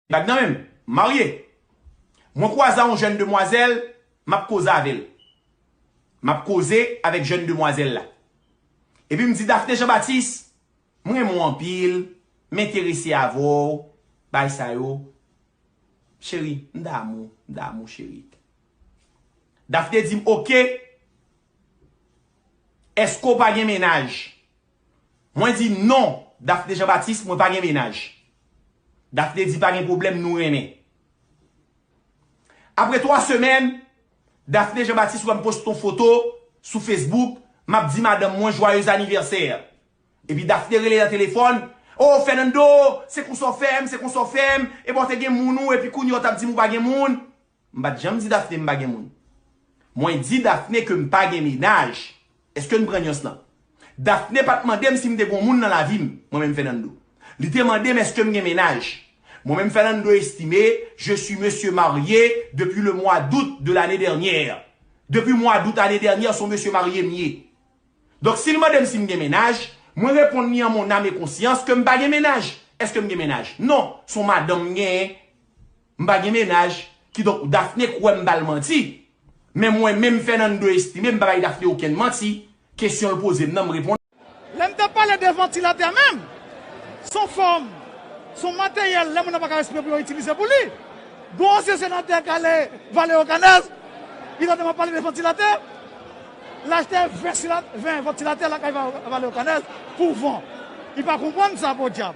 Gad nan menm, marye. Mwen kwaze a yon jèn demwazèl, m ap koze avè l. M ap koze avèk jèn demwazèl la. Epi m di Daphné Jean Baptiste, m renmen w anpil, m enterese avè w, bagay sa yo. Cheri, m damou w, m damou w cheri. Daphné di m, ok, èske w pa gen mennaj? Mwen di non Daphné Jean Baptiste mwen pa gen mennaj Daphné di pa gen pwoblèm nou renmen Apre 3 semèn Daphné Jean Baptiste wèm poste yon foto sou Facebook map di madanm mwen jwayez anivèsè epi Daphné rele nan telefòn Oh Fernando se konsa w fèm se konsa w fèm epa w te gen moun ou epi kounye w tap di m ou pa gen moun M pat janm di Daphné m pa gen moun. Mwen di Daphné ke m pa gen mennaj. Eske n pran nyans lan? Daphné pat mande m si m te gon moun nan lavi m, mwen menm Fernando. Li te mande m eske m gen mennaj. Mwen menm Fernando Estimé, je suis monsieur marié depuis le mois d'août de l'année dernière. Depi mwa dout ane dènyè son mesye marye m ye. Donk si l mande m si m gen mennaj, mwen reponn li an mon âme et conscience ke m pa gen mennaj. Eske m gen mennaj? Non. Son madanm m genyen. M pa gen mennaj, kidonk Daphné kwè m bal manti. Men mwen menm Fernando Estime m pa bay Daphné okenn manti, kesyon l poze m nan m reponn. Lè m t ap pale de vantilatè menm, s on fòm, s on materyèl lè moun nan pa ka respire pou yo itilize pou li. Gon ansyen senatè k ale Valeo Canèz, li tande m ap pale de vantilatè, l achte 20 vantilatè lakay Valeo Canèz pou van. Li pa konprann sa podyab.